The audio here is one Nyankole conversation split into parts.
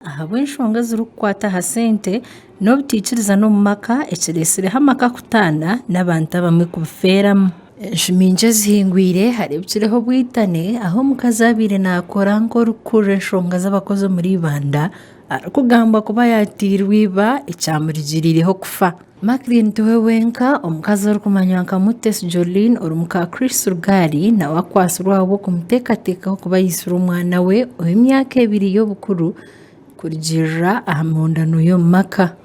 ahabw'enshonga ezirikukwata aha sente n'obutaikirizana omu maka ekiretsireho amaka kutaana n'abantu abamwe kubifeeramu. Enju nyingi ezihingwire hareebikireho obwitane ahu omukazi abaire naakora nk'orikukurira enshonga z'abakozi omuri Ibanda arikugambwa kuba yaatairwe iba ekyamurigiriireho kufa. Maclean tiwe wenka, omukazi orikumanywa nka Mutesi Jolene ori muka Chris Rugari nawe akwatsirwe ahabw'okumuteekateekaho kuba aisire omwana we ow'emyaka ebiri y'obukuru kurugiirira aha mihondano y'omu maka.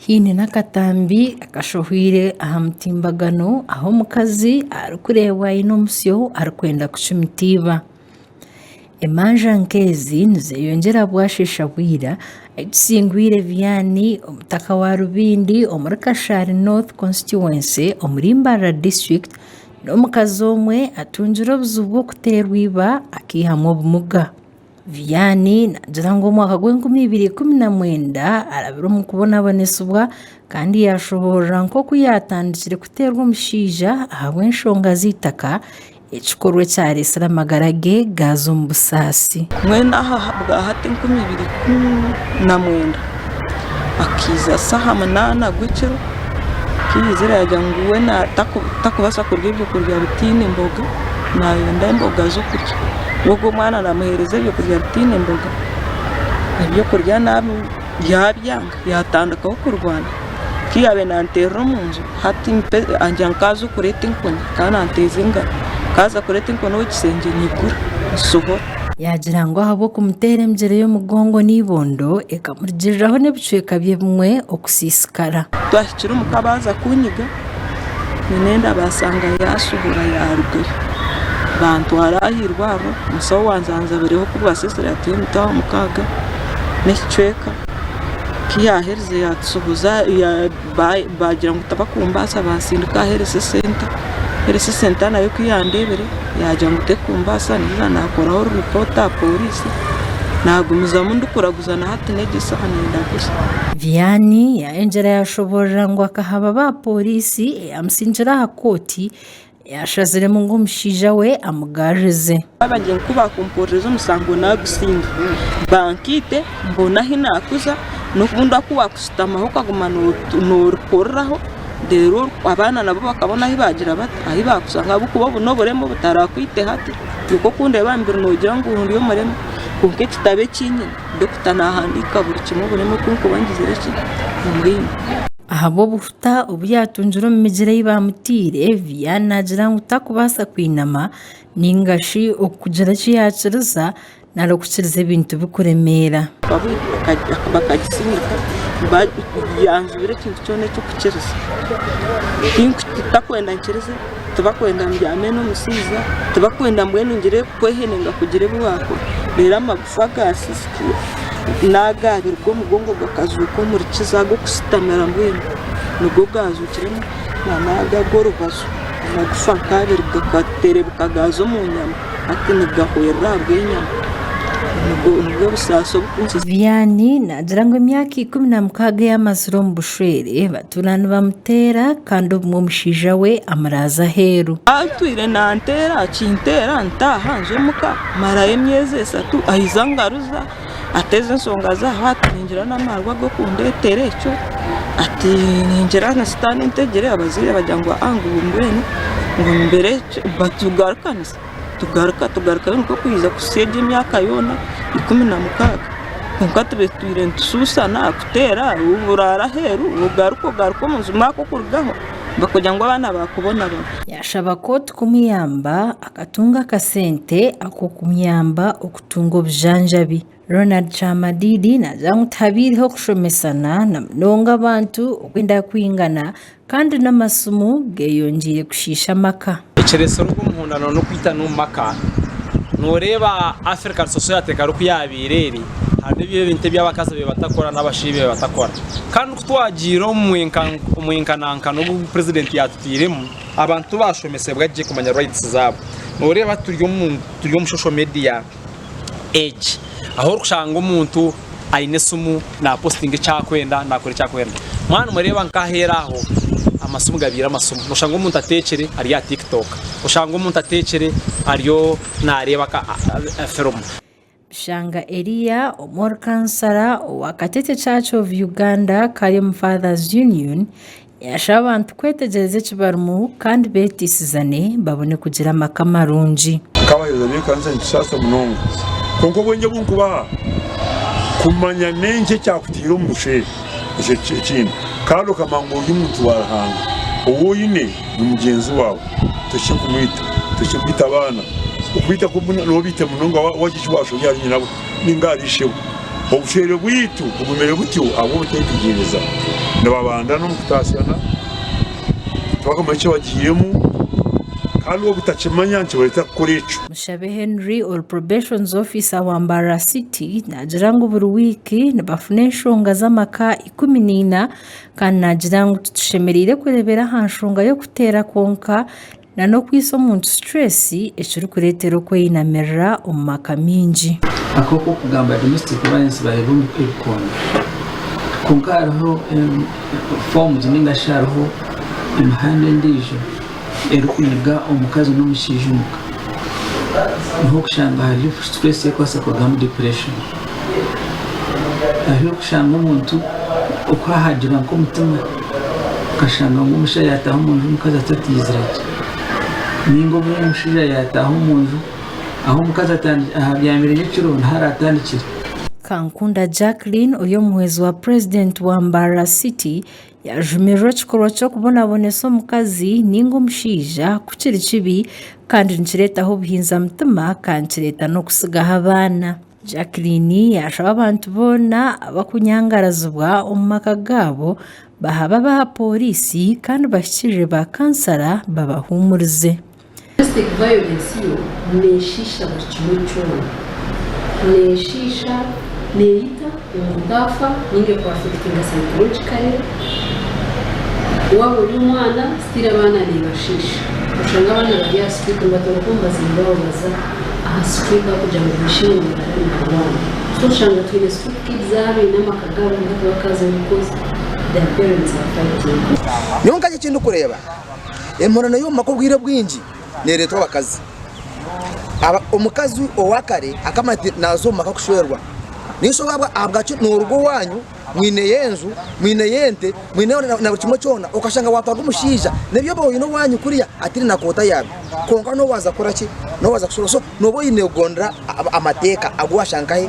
Haine n'akatambi akashohwire aha mutimbagano ahu omukazi arikureebwa aine omusyo arikwenda kucumitiiba. Emanja nk'ezi nizeyongyera bwasheesha bwira ahi tusingwire ebyaani omutaka wa Rubindi omuri Kashari North Constituency omuri Mbarara District n'omukazi omwe atungire obuzibu bw'okuteerwa iba akaihamu obumuga. Vianney naagira ngu omwaka gw'enkumi ibiri ikumi na mwenda arabire omu kubonabonesibwa kandi yaashohoorora nk'oku yaatandikire kuteerwa omushaija ahabw'enshonga z'eitaka Ekikorwa ekyareetsire amagara ge gaaza omu busaasi. Mbwenu aha bwa hati enkumi ibiri ikumi na mwenda akaija shi aha munaana gw'ekiro, akaihuzira yaagira ngu we tarikubaasa kurya ebyokurya bitaine mboga, naayenda emboga z'okurya. Ogwo omwana naamuheereza ebyokurya bitaine mboga, ebyokurya naabirya, yabyanga. Yaatandikaho kurwana ku yaabaire naanteerera omu nju, hati angira ngu nkaaza okureeta enkoni kandi naanteeza engaro, nkaaza kureeta enkoni omu kishengye nyigura ngishohora. Yaagira ngu ahabw'okumuteera emigyere y'omugongo n'eibondo ekamurugiiriraho n'ebicweka bye ebimwe okusiisikara. Twahikire omuka baaza kunyiga nyine enda baasanga yaashohora yaarugayo. Baantwara aha irwariro omusaho wanzaanzabireho ku bwasizire ati oine etaara mukaaga n'ekicweka. ku yaaherize yaatushoboza baagira ngu tibakumbaasa baatsindika aha health center, health center nayo ku yandeebire yaagira ngu terikumbaasa ningira naakoraho report aha poriisi naagumizamu ndikuraguza na hati n'egi saha nindaguza. Vianney yaayongyera yaashoboorora ngu akahaba baaporiisi eyaamutsingire aha kooti, Yaashaziremu ngu omushaija we amugarurize. Baabagira ku baakumpuririza omusango naagusiinga, bankaite mbone ahu naakuza n'obu ndaakuba waakushutamaho okaguma noorikururaho reero abaana nabo bakabona ahu baagira bata ahu baakushanga ahabw'okuba obu n'oburema obutarakwita hati kwonka oku ndeeba aha mubiri noogira ngu ndi omurema kwonka ekitabo eki nyine dokita naahandiika buri kimwe oburema oku nkuba ngizire ki, omuringo. Peter obu yaatungire omu migyera ei baamutaire, Viya naagira ngu takubaasa kwinama nainga shi okugira eki yaakiriza nari okukiriza ebintu bikuremeera. Bakakisindika yanzibira ekintu kyona eky'okukiriza. Tibakwenda nkirize, tibakwenda mbyame n'omushaija, tibakwenda mbwenu ngire kwehenenga kugira ebi waakora. Fergus Isiko naagaabirwe omugongo gakazuuka omuri Kiza ag'okusitamira mbwenu nigwo gaazuukiremu nana aga ag'orubaju amagufa nk'abiri gakaterebuka gaaza omu nyama hati nigahwerera ahabw'enyama nibwo busaasi obu Kiza Vianney naagira ngu emyaka ikumi na mukaaga ei amazire omu bushwere batuura nibamuteera kandi obumwe omushaija we amuraaza aheeru. Atwire nanteera akinteera ntaaha nza omuka Marayo emyezi esatu aija angaruza ateeza ensonga ze aho ati ningira n'amaarwa g'okundeetera ekyo, ati ningira na sitaane entegire abazaire bagira ngu aa ngu mbwenu ngu mbere ki but tugarukanisa tugaruka tugarukayo nikwo kwija kuhitsya egyo emyaka yoona ikumi na mukaaga kwonka tubitwire nitushushana kuteera buraara aheeru ogaruka ogaruka omu nju maaka okurugaho bakugira ngu abaana baakubonabona. Yaashaba kooti kumuyamba. Akatunga akasente ak'okumuyamba okutunga obujanjabi. Ronald Kyamadidi naagira ngu tihabaireho kushomesana na munonga abantu okwenda kwingana kandi n'amasimu geyongiire kushiisha amaka. Ekiretsire ogu omuhundano n'okwitana omu maka. Noreeba African society ekaba eri ku yaabaire eri, harimu ebi ebintu ebi abakazi babaire batakora n'abashaija ebi babaire batakora. Kandi ku twagiire omu mwenkanankano ogu president yaatutairemu, Abantu tibashomesebwa gye kumanya rights zaabo. Nooreeba turi omu turi omu social media age ahu orikushanga omuntu aine esimu naapositinga eki arikwenda naakora eki arikwenda. Mwaba nimureeba nk'aheeru aho amasimu gabaire amasimu. Nooshanga omuntu ateekire ari aha tiktok, oshange omuntu ateekire ariyo naareeba ka firimu. Bishanga Eria, Omwori Kansara owa Katete Church of Uganda, Karium Fathers Union, yashaba abantu kwetegyereza eki barimu kandi beeteisizane babone kugira amaka marungi. Nk'abaheereza b'ekanisa nikisasa munonga kwonka obwengye obu nkubaha kumanya n'enki ekyakutaire omu busheeri. Ekyo ekindi kandi okamanya ngu ori muntu wa Ruhanga ou oine. ni mugyenzi waawe tohikire kumwita, tohikire kwita abaana, okwita kwo bumwe nooba obiite munonga waagira eki waashobya ahari nyina we nainga ahari ishebo. Obushwere bwaitu bugumire butyo ahabw'obuteetegyereza, nibabandana omu kutaasyana, tibakamanyi eki bagiiremu kandi obutakimanya nikibareetera kukora ekyo. Mushabe Henry ori Probations Officer wa Mbarara City naagira ngu buri wiiki nibafuna enshonga z'amaka ikumi na ina Kandi naagira ngu titushemereire kureebera aha nshonga y'okuteera kwonka na n'okwitsa omuntu situreesi ekirikureetera okweyinamirira omu maka maingi. Akooko kugamba domestic violence bareeba omu ebikondo kwonka hariho foomuzi ninga shi hariho emihanda endiijo. erikuhiga omukazi n'omushaija omuka niho okushanga hariyo situreesi erikubaasa kurugamu dipureeshoni. Hariho okushanga omuntu oku haahagira nk'omutima okashanga ngu omushaija yaataaha omu nju omukazi atataizire gye. Nainga obumwe omushaija yaataaha omu nju ahu omukazi abyamire nyekiro niho araatandikire. Kankunda Jacqueline ori omuhwezi wa purezidenti wa Mbarara City, Yaajumirira ekikorwa ky'okubonabonesa omukazi nainga omushaija ku kiri kibi kandi nikireetaho obuhinzamutima kandi nikireeta n'okutsigaho abaana. Jacqueline yaashaba abantu boona abakunyangarazibwa omu maka gaabo baha babe aha pooriisi kandi bahikirire ba kansara babahuumurize. Domestic violence yo neeshiisha buri kimwe kyona. Neeshiisha, neeyita, omuntu afa nainga ekuafekitinga psychologically. Waaba ori omwana, still abaana neebashiisha. Oshanga abaana bari aha street nibatoroka omu baziire baabo baza aha street ahabw'okugira ngu baishiirwe ngu nibareeba naarwana. So oshanga twine street kids abo abaine amaka gaabo kwonka tibakaazayo because their parents are fighting. Nyowe nkanye eki ndikureeba, Emurano y'omu maka obwire bwingi neeretwa abakazi. Omukazi owa kare akamanya ati naaza omu maka kushwerwa. Naisha waaba ahabwaki nooruga owaanyu mwineyo enju, mwineyo ente, mwineyo na buri kimwe kyona okashanga waatwaga omushaija n'ebi oba oine owaanyu kuriya ataine na kooti ayaaba. Kwonka n'owaaza kukora ki? N'owaaza kushwerwa. So nooba oine kugondera amateeka agu waashanga nkahe?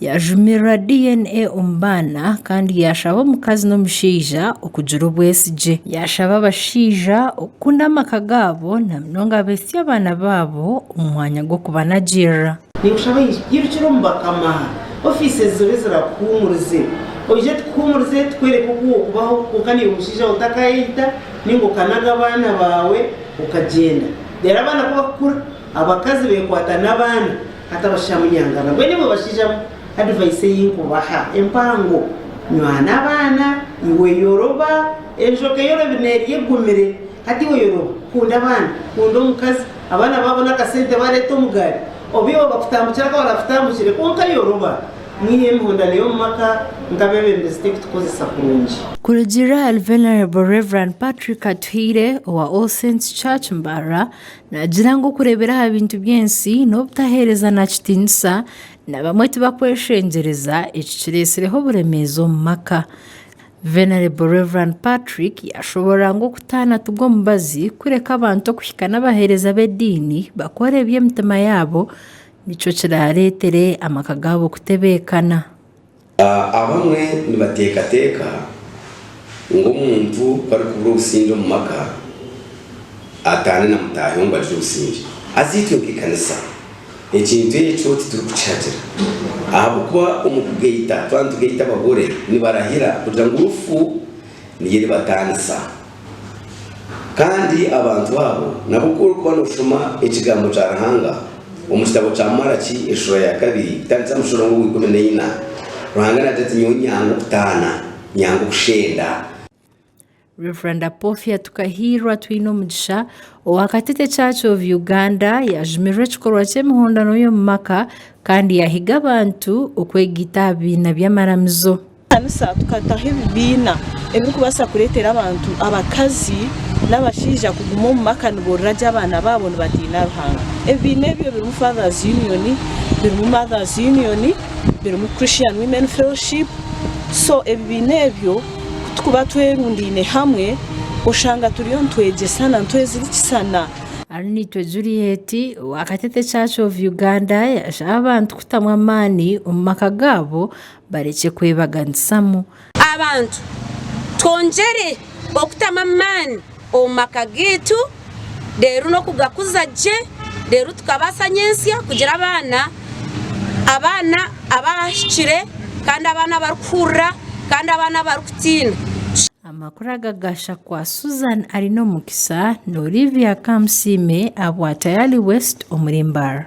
Yaajumirira DNA omu baana kandi yaashaba omukazi n'omushaija okugira obwesigye. Yaashaba abashaija okukunda amaka gaabo na munonga abaitsya abaana baabo omu mwanya gw'okubanagirira. Ninkushaba irukira omu bakama, ofiisi ezizobe zirakuhuumurize. Oije tukuhuumurize, tukwereke oku w'okubaho kwonka naiwe mushaija we otakayeita nainga okanaga abaana baawe okagyenda. Reero abaana ku bakukura, abakazi beekwata n'abaana. Hati abashaija munyangana mbwenu imwe bashaija advice eyi nkubaha empango nywana abaana iwe yoroba enjoka eyorobi nerya egumire hati iwe yoroba kunda abaana kunda omukazi abaana babona akasente bareta omugari oba iwe bakutambukira nka barakutambukire kwonka yoroba mwiha emihondano yomumaka nka abebembezi tekutukozesa kurungi. Kurugiirira ahari Venerable Rev. Patrick Atuhaire owa All Saints Church Mbarara, Naagira ngu okureebera aha bintu by'ensi n'obutaheereza na kitiinisa na bamwe tibakweshengyereza eki kireetsireho oburemeezi omu maka. Venerable Rev. Patrick yaashoboorora ngu okutaana ti gwo mubazi kureka abantu okuhika n'abaheereza b'ediini bakora ebi emitima yaabo nikyo kiraareetere amaka gaabo kutebeekana. Abamwe nibateekateeka ngu omuntu ku arikubura obusingye omu maka, ataane na mutaahi we ngu agire obusingye. Haza itwe nk'ekanisa ekintu ekyo titurikukihagira ahabw'okuba omu kugaita, twaba nitugaita abagore, nibarahira kugira ngu rufu niyo eribataanisa. Kandi abantu abo nabo ku orikuba nooshoma ekigambo kya Ruhanga omu kitabo kya Malaki eshura ya kabiri kutandikira omu mushorongo ogwa ikumi na ina, Ruhanga naagira ati, Nyowe nyanga okutaana, nyanga okushenda. Rev. Apofia Tukahiirwa Twinomugisha owa Katete Church of Uganda yajumirira ekikorwa ky'emihondano y'omu maka kandi yahiga abantu okwegaita aha bibiina by'amaramizo. Ekanisa tukataho ebibiina ebirikubaasa kureetera abantu abakazi n'abashaija kuguma omu maka niborora gye abaana baabo nibatiina Ruhanga. Ebibiina ebyo birimu Fathers Union, birimu Mothers Union, birimu Christian Women Fellowship. So ebibiina ebyo kutukuba twerundaine hamwe oshanga turiyo nitwegyesana, nitwezirikisana. Ariniitwe Juliet owa Katete Church of Uganda yashaba abantu kutamu amaani omu maka gaabo Barekye kwebaganisamu. Abantu, twongyere okutamu amaani omu maka gaitu reero n'okugakuza gye reero tukabaasa nyentsya kugira abaana, abaana abaahikire kandi abaana abarikuhurira kandi abaana abarikutiina. Amakuru aga gasha kwa Susan Arinomukisa na Olivia Kamusiime aha bwa Tayali West omuri Mbarara.